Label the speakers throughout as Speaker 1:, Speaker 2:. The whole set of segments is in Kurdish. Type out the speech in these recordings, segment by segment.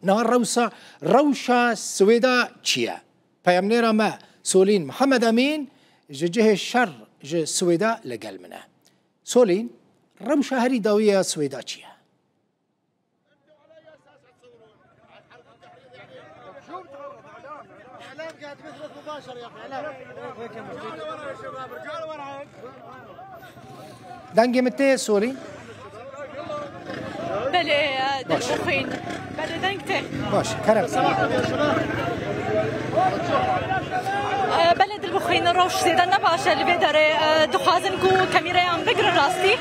Speaker 1: Niha rewsa rewşa Swêda çi ye? Peyamnêra me Solîn Mihemed Emîn ji cihê şer ji Swêda li gel min e. Solîn, rewşa herî dawî ya Swêda çi ye? Dengê min tê sorî? Belê dengê xwîn.
Speaker 2: Belê deng tê. Baş, kerem. Belê dilbixwîn rewş zêde ne baş e li vê derê dixwazin ku kamîreyan bigirin rastî.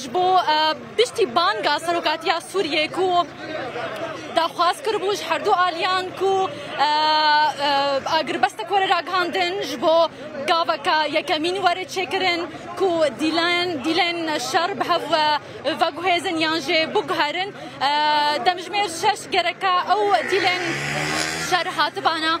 Speaker 2: Ji bo piştî banga Serokatiya Sûriyê ku daxwaz kiribû ji herdu aliyan ku agirbestek were ragihandin ji bo gaveka yekemîn were çêkirin ku dîlen dîlen şer bi hev veguhêzin yan jê biguherin demjimêr şeş gereka ew dîlen şer hatibana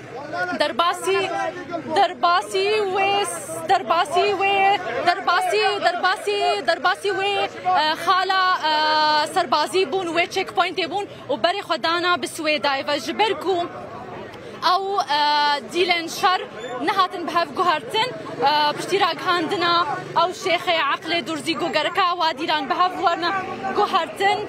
Speaker 2: Derbasî, derbasî wê, derbasî wê, derbasî, derbasî, derbasî wê xala serbazî bûn wê checkpointê bûn û berê xwe dana bi Swêdayê ve ji ber ku ew dîlên şer nehatin bi hev guhertin piştî ragihandina ew şêxê eqlê durzî ku gereka wadîran bi hev werna guhertin.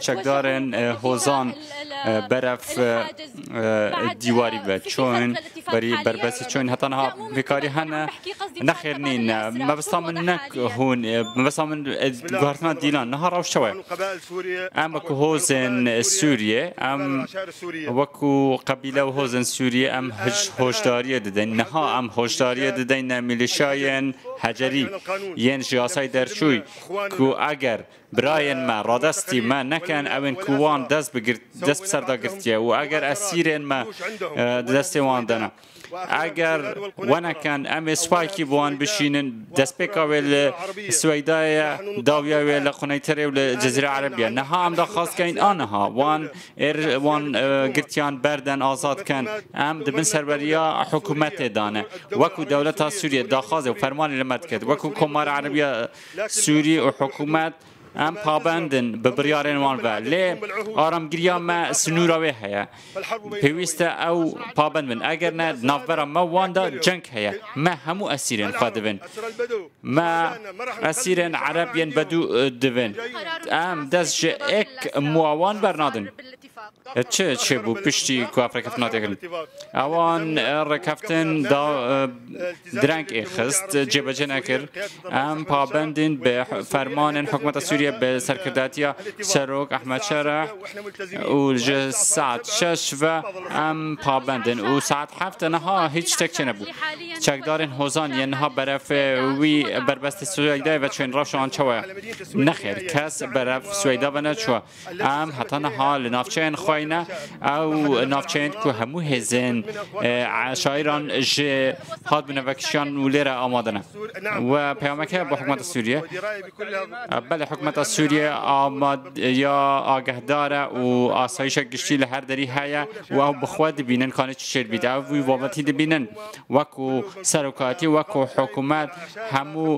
Speaker 3: Çekdarên hozan berev dîwarî ve çûn, berî berbesî çûn heta niha bêkarî hene. Nexêr nîn e. Mebesta min ne hûn e. Mebesta min guhertina dîlan niha rewş çawa ye? Em wekû hozên Sûriyê, em wekû qebîle û hozên Sûriyê em hoşdariyê didin. Niha em hoşdariyê didin mîlîşyayên hecerî yên ji yasayê derçû ku eger Birayên me radestî me nekin ew ên ku wan dest bi dest bi ser de girtiye û eger esîrên me di destê wan de ne. Eger we nekin em ê spayekî bi wan bişînin. Destpêka wê li Siweydayê ye, dawiya wê li Quneytirê û li Cezîra Erebî ye. Niha em daxwaz dikin aniha wan ê wan girtiyan berden azad bikin. Em di bin serweriya hikûmetê de ne. Wekû dewleta Sûriyê daxwazê û fermanê li me dikir, wekû Komara Erebî ya Sûrî û hikûmet em pabend in bi biryarên wan ve lê aramgiriya me sinûra wê heye. Pêwîst e ew pabend bin. Eger ne di navbera me û wan de ceng heye. Me hemû esîrên xwe dibin. Me esîrên ereb yên bedû dibin. Em dest ji ek mûa wan bernadin. Çi çêbû piştî ku ev rêkeftin hatiye kirin? Ewan rêkeftin da direng ê xist, cêbecê nekir. Em pabendîn bi fermanên hikûmeta Sûriyeyê bi serkirdatiya Serok Ehmed Şereh û ji saet şeş ve em pabend in û saet heft e niha hîç ştek çênebû. Çekdarên hozan yên niha berevê wî berbestê Swêydayê ve çûyên, rewşa wan çawa ye? Nexêr, kes berev Swêyda ve neçûye. Em heta niha li navçeyên xwe ne, ew navçeyên ku hemû hêzên şairan ji hatbûne vekişiyan û lê re amade ne. We peyameke bo hikûmeta Sûriyê. Belê hikûmeta Sûriyê amadeya agehdar e û asayîşa giştî li her derî heye û ew bi xwe dibînin kanê çi şêr bît. Ew wî babetî dibînin. Wek û serokatî wek û hikûmet hemû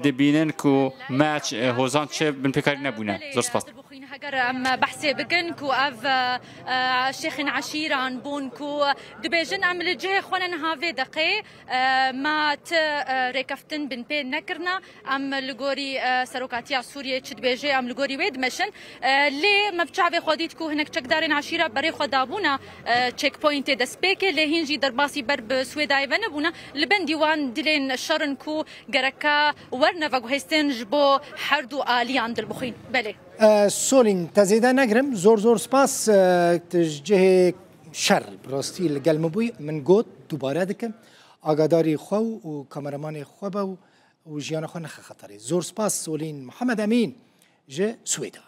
Speaker 3: dibînin ku me hozan çi binpêkarî nebûne. Zor spas. Heger em
Speaker 2: behsê bikin ku ev şêxên eşîran bûn ku dibêjin em li cihê xwe ne niha vê deqê me ti rêkeftin binpê nekirine. Em li gorî serokatiya Sûriyê çi dibêje em li gorî wê dimeşin. Lê me bi çavê xwe dît ku hinek çekdarên eşîra berê xwe dabûne checkpointê destpêkê lê hîn jî derbasî ber bi Swêdayê ve nebûne. Li bendî wan dilên şer in ku gereka werne veguhêstin ji bo herdû aliyan dil bixwîn. Belê. Solîn
Speaker 1: te zêde negirim. Zor zor spas. Tu ji cihê şer bi rastî li gel min bûyî. Min got dubare dikim. Agadarî xwe û kameramanê xwe be û û jiyana xwe nexe xeterê. Zor spas Solîn Mihemed Emîn ji Swêdan.